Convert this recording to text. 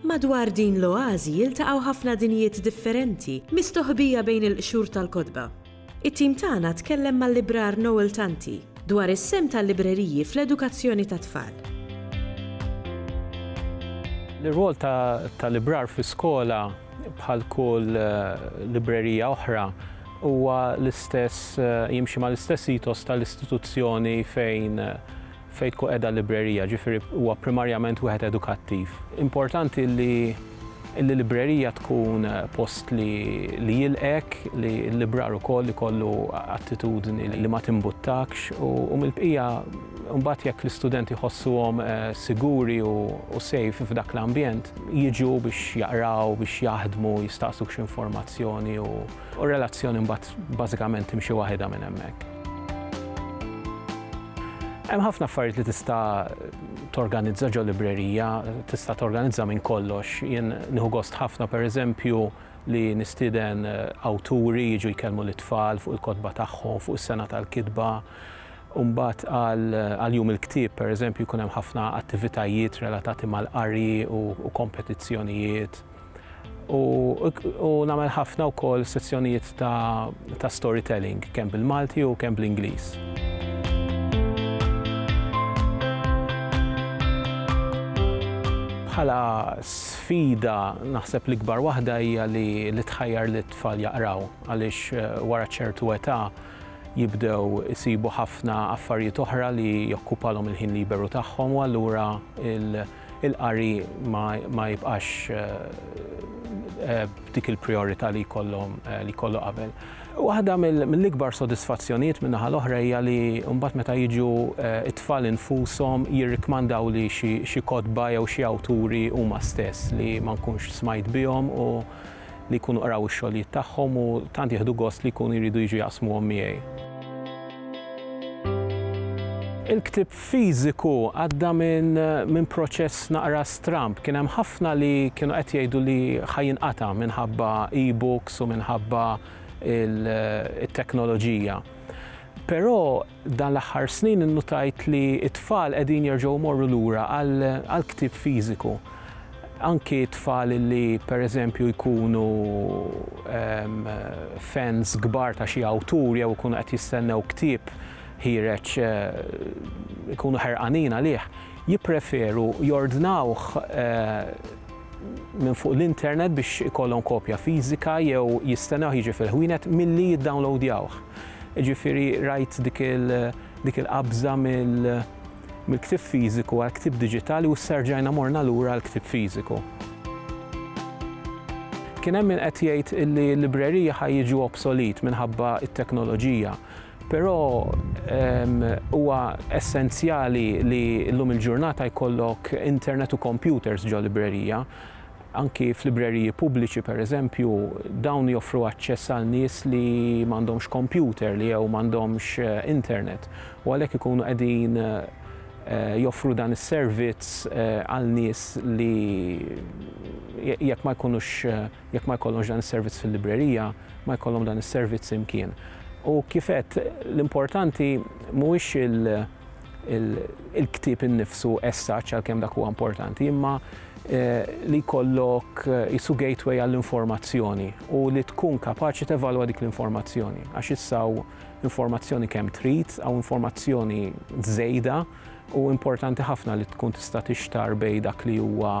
Madwar din l-oażi jiltaqgħu ħafna dinjiet differenti mistoħbija bejn il-qxur tal-kotba. It-tim tagħna tkellem mal-librar Noel Tanti dwar is-sehem tal-libreriji fl-edukazzjoni tat-tfal. L-irwol ta' librar fi skola bħal kull librerija oħra huwa l-istess, jimxi mal-istess ethos tal-istituzzjoni fejn fejn tkun qiegħda l-librerija, ġifieri huwa primarjament wieħed edukattiv. Importanti li l-librerija tkun post li jilqgħek, li l-librar ukoll ikollu attitudni li ma timbuttakx u mill-bqija mbagħad jekk l-istudenti jħossuhom siguri u safe f'dak l-ambjent, jiġu biex jaqraw, biex jaħdmu, jistaqsuk xi informazzjoni u r-relazzjoni mbagħad Bażikament timxi waħidha minn hemmhekk. Hemm ħafna affarijiet li tista' torganizza ġo librerija, tista' torganizza minn kollox. Jien nieħu gost ħafna pereżempju li nistieden eh, awturi jiġu jkellmu lit-tfal fuq il-kotba tagħhom, fuq is-sena tal-kitba. Umbat għal jum il-ktib, per eżempju, jkun hemm ħafna attivitajiet relatati mal-qari u kompetizzjonijiet. U nagħmel ħafna wkoll sezzjonijiet ta' storytelling, kemm bil-Malti u kemm bl-Ingliż. Bħala sfida naħseb l-ikbar waħda hija li tħajjar li t-tfal jaqraw għaliex eh, wara ċertu età jibdew isibu ħafna affarijiet oħra li jokkupalhom il-ħin liberu tagħhom u allura il-qari ma jibqax b'dik il-prijorità li jkollu qabel. Waħda mill-ikbar sodisfazzjonijiet min-naħa l-oħra hija li mbagħad meta jiġu t-tfal infushom jirrikmandawli xi kotba jew xi awturi huma stess li ma nkunx smajt bihom u li jkunu qraw ix-xogħlijiet tagħhom u tant jieħdu gost li jkunu jridu jiġu jaqsmuhom miegħi. Il-ktieb fiżiku għadda minn proċess naqra stramb. Kien hemm ħafna li kienu qed jgħidu li ħa jinqata' minħabba e-books u minħabba t-teknoloġija. Però F'dan l-aħħar snin innutajt li t-tfal qegħdin jerġgħu jmorru lura għall-ktieb fiżiku. Anki t-tfal li pereżempju jkunu fans kbar ta' xi awtur jew ikunu qed jistennew ktieb ħiereġ ikunu ħerqanin għalih, jippreferu jordnawh minn fuq l-internet biex ikollhom kopja fiżika jew jistennewh jiġi fil-ħwienet milli jiddownlowdjawh. Jiġifieri rajt dik il-qabża mill-ktieb fiżiku għal ktieb diġitali u issa rġajna morna lura għal ktieb fiżiku. Kien hemm min qed jgħid illi l-libreriji ħa jiġu obsolet minħabba t-teknoloġija, però huwa essenzjali li llum il-ġurnata jkollok internet u kompjuters ġo librerija. Anki f'libreriji pubbliċi, pereżempju, dawn joffru aċċess għal nies li m'għandhomx kompjuter li jew m'għandhomx internet u għalhekk ikunu qegħdin joffru dan is-servizz għal nies li jekk ma jkunux jekk ma jkollhomx dan is-servizz fil-librerija ma jkollhom dan is-servizz imkien. U kif għedt, l-importanti mhuwiex il-ktieb innifsu essaċ għalkemm dak huwa importanti, imma eh, li jkollok eh, isu gateway għall-informazzjoni u li tkun kapaċi tevalwa dik l-informazzjoni. Għax issaw informazzjoni kemm trid għaw informazzjoni żejda u importanti ħafna li tkun tista' tixtar bej dak li huwa